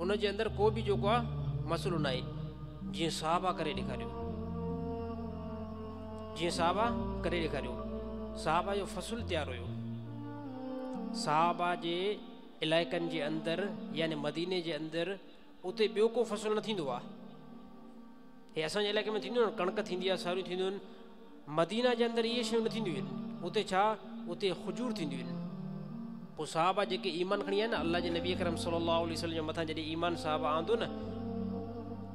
ان جي اندر ڪو به جيڪو آ مسئلو ناهي جيئن صحابه ڪري ڏيکاريو جيئن صحابه ڪري ڏيکاريو صحابه جو فصل تيار هيو صحابه جي علائقن جي اندر يعني مديني جي اندر اتي ٻيو ڪو فصل نه ٿيندو آ هي اسان جي علائقي ۾ ٿيندو آ ڪڻڪ ٿيندي آ ساريون ٿينديون آهن مدينه جي اندر اهي شيون نه ٿينديون آهن اتي ڇا اتي خجور ٿينديون آهن پوء صحابه جيڪي ايمان کڻي آيا نه الله جي نبي اڪرم صلي الله عليه وسلم جي مٿان جڏهن ايمان صحابه آندو نه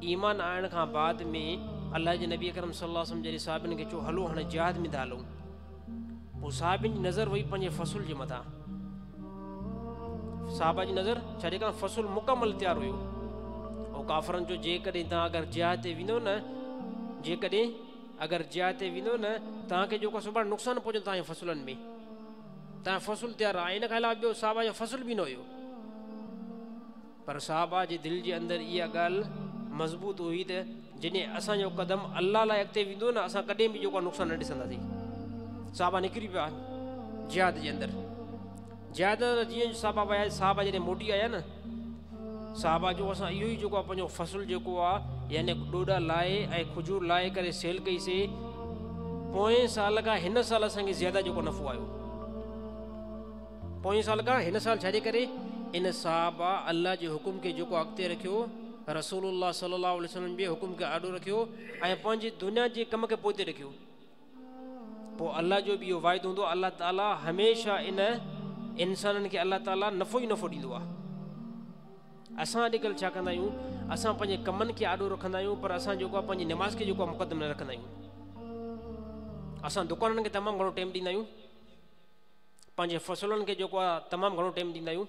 ايمان آڻڻ کان بعد ۾ الله جي نبي اڪرم صلي الله عليه وسلم جڏهن صحابين کي چيو هلو هاڻي جهاد ۾ ٿا هلون پوء صحابين جي نظر وئي پنهنجي فصل جي مٿان صحابه جي نظر ڇا جيڪا فصل مڪمل تيار هيو او ڪافرن جو جيڪڏهن تان اگر جهاد تي ويندو نه جيڪڏهن اگر جاء تي ويندو نه توهان کي جيڪو سڀاڻي نقصان پهچندو توهان جي فصلن ۾ توهان جو فصل تيار آهي ان کان علاوه ٻيو صحابه جو فصل به نه هيو پر صحابه جي دل جي اندر اها ڳالهه مضبوط هئي ته جڏهن اسان جو قدم الله لاء اڳتي ويندو نه اسان ڪڏهن به جيڪو نقصان نه ڏسنداسين صحابه نڪري پيا جهاد جي اندر زيادتر ته جيئن صحابه ويا ۽ صحابه جڏهن موٽي آيا نه صحابه جو اسان اهو ئي جيڪو آهي پنهنجو فصل جيڪو آهي يعني ڏوڏا لاهي ۽ کجور لاهي ڪري سيل ڪئي سي پوئين سال کان هن سال اسان کي زياده جيڪو نفعو آيو پوئين سال کان هن سال ڇاجي ڪري ان صحابه الله جي حڪم کي جيڪو اڳتي رکيو رسول الله صلي الله عليه وسلم جي حڪم کي آڏو رکيو ۽ پنهنجي دنيا جي ڪم کي پوئتي رکيو پوء الله جو به اهو واعدو هوندو آهي الله تعالي هميشه ان انسانن کي الله تعالي نفو ئي نفو ڏيندو آهي اسان اڄڪلھ ڇا ڪندا آهيون اسان پنهنجي ڪمن کي آڏو رکندا آهيون پر اسان جيڪو آهي پنهنجي نماز کي جيڪو مقدم نه رکندا آهيون اسان دڪانن کي تمام گھڻو ٽائم ڏيندا آهيون پنهنجي فصلن کي جيڪو آهي تمام گھڻو ٽائم ڏيندا آهيون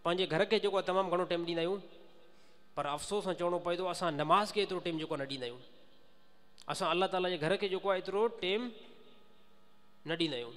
پنهنجي گھر کي جيڪو آهي تمام گھڻو ٽائم ڏيندا آهيون پر افسوس سان چوڻو پوي ٿو اسان نماز کي ايترو ٽائم جيڪو نه ڏيندا آهيون اسان الله تعاليٰ جي گهر کي جيڪو آهي ايترو ٽيم نه ڏيندا آهيون.